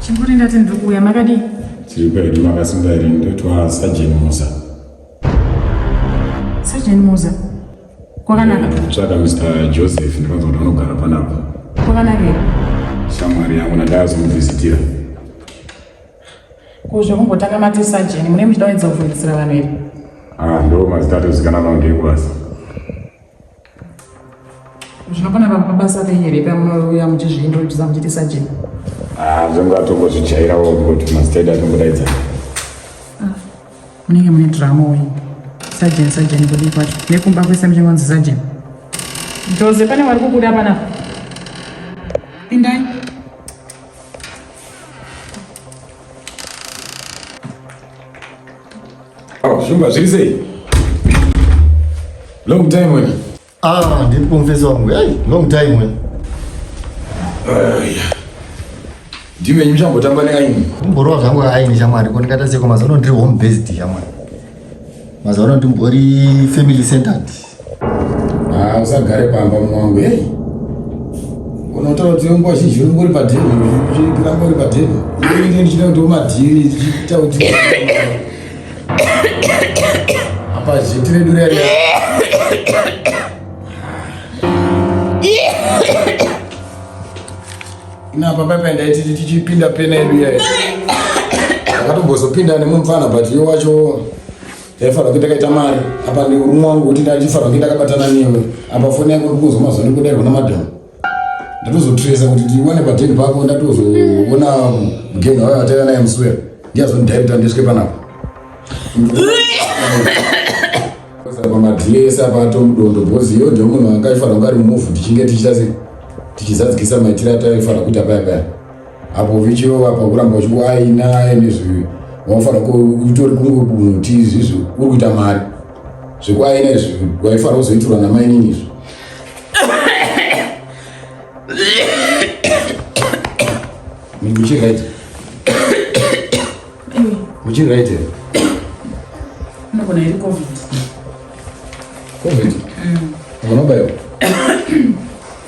Chinguri ndati ndiri kuuya makadii? Tiri kwedu makasimba here ndoitwa Sergeant Musa. Sergeant Musa. Kwakanaka. Tsvaka Mr. Joseph ndikanzwa kuti anogara panapa. Kwakanaka here? Shamwari yangu ndakazomuvhizitira. Ko zvekumbotanga mati Sergeant mune muchida kuedza kuvhunzisira vanhu here? Ah, ndo mazita atozikanwa ngekwasa. zvinopona pamabasa ake here pamunouya muchizviintrodusa muchiti sajeni ah, zvonga atongozvijairawo kuti mastadi atongodaidza ah, munenge mune drama uyi sajeni sajeni kudii kwacho nekumba kwese muchingonzi sajeni joze pane wari kubuda panapa pindai Oh, Shumba, zviri sei? Long time wena. Ah, ndiri kumfesa wangu. Hey, long time wena. Ayya. Ndiwe nyimsha mbotamba neaini. Mborowa zvangu aini shamwari, ko ndikata seko mazono ndiri home based shamwari. Mazono ndimbori family centered. Ah, usagare pamba mwangu. Hey. Unotaura kuti nguva zhinji uri ngori padhiri, uchiramba uri padhiri. Ini ndichida kuti umadhiri, ndichita kuti apa zhiti redu rere. Ina papa penda iti tichipinda pena yedu yayo. Akatombozopinda nemumfana but yo wacho Ndaifanirwa kuita kaita mari apa neurumwa wangu kuti ndaifanirwa kuita kabatana newe apa foni yako ndikuzwa mazuva nekudairwa namadam ndatozotresa kuti ndiwane padeni pako ndatozoona mugeni wayo ataiva naye muswera ndiyazondidairita ndiswe panapa pamadhiresa pato mudondo bhozi iyo ndio munhu anga aifanira kunge ari mumuvhu tichinge tichita sei tichizadzikisa maitiro ataifanira kuita paya paya apo vichirova pakuramba uchikuaina ende zvivi waifara utori kungomuti izvizvi uri kuita mari zvekuaina izvi waifara kuzoitirwa namainini izvi muchiri right muchiri right here unogona iri covid covid mm. unobaiwa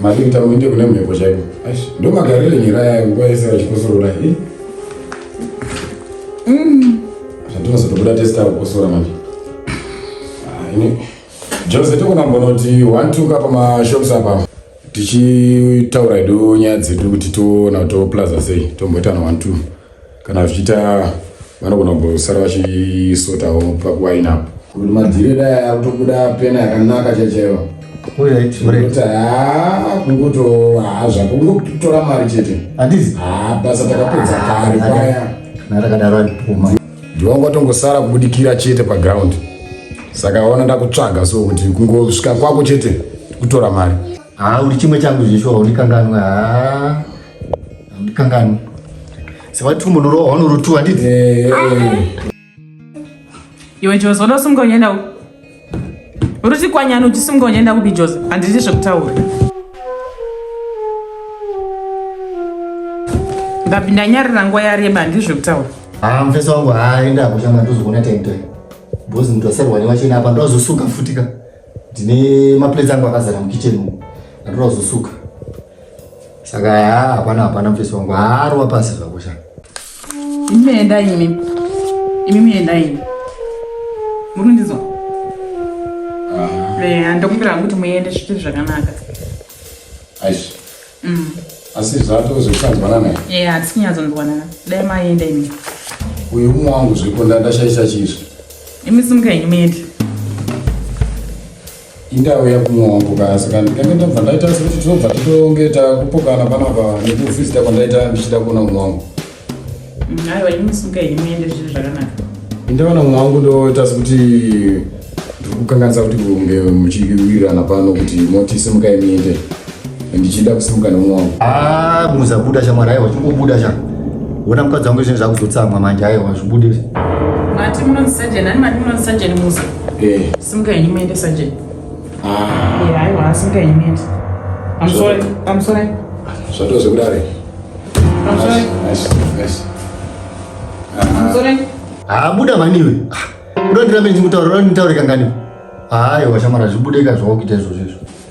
Madini tamuite kune mhepo chaiko. Aish, ndo magarire nyira yayo nguva yese vachikosorora. Eh? Mm. Zvatinozotobuda testa kukosora manje. Ah, ini Jose tokunambonoti one two kapa mashops apa tichitaura hedu nyaya dzedu kuti toona kuti toplaza sei tomboitana one two kana zvichiita vanogona kumbosara vachisotawo pakuwaina apo kuti madhire dai akutobuda pena yakanaka chaichaiva kuti haa kungoto haa zvako kungotora mari chete handizi haa basa takapedza kare paya narakadaro andipuma ndivanga tongosara kubudikira chete paground saka ona ndakutsvaga so kuti kungosvika kwako chete kutora mari haa uri chimwe changu zveshuwa undikanganwe haa Kangan. Sebab tu menurut orang nurut tu adik. Eh. Iwe Jozi unosunga uchienda ku uri chikwanyani uchisunga uchienda kupi Jozi handiti zvekutaura ndapinda nyarira nguva yareba handiti zvekutaura haa mufesi wangu haaenda kushama ndozokuona taitoe bhozi ndoserwa newachena apa ndozosuka futika ndine maplates angu akazara mukicheni andoda kuzosuka saka ya hapana hapana mfesi wangu haarwa pasi zvakusha imi muenda imi imi muenda imi muri kundizwa ah. eh, ndokumbira hangu kuti muende zviti zvakanaka aish mm. asi zvato zvekusanzwanana e eh, hatisi kunyatsonzwanana dai maenda imi uyu umwe wangu zviko ndandashaisa chizvi imi simuka henyu muende Indauya kumwongoka asi kana ndikange ndabva ndaita sekuti tinobva titonge takupokana panapa nekuvhizita kwandaita ndichida kuona umwe wangu aiwa ini musuka ini muende zviri zvakanaka indaona umwe wangu ndoita sekuti ndiri kukanganisa kuti kunge muchiwirirana pano kuti motisimuka imiende ndichida kusimuka nomwe wangu ah muza buda shamwari aiwa chingobuda cha wona mukadzi wangu izveni zvakuzotsamwa manje aiwa zvibude mati munonzi sajeni ani mati munonzi sajeni muza eh. simuka henyu muende sajeni ah. aiwa asimuka henyu muende amsore amsore zvatoze kudare amsore amsore habuda ah, maniwe ah, unondirambe ndichimutaura unonditaure kanganiwe aiwa shamwari zvibude ka zvawakuita izvozvo izvo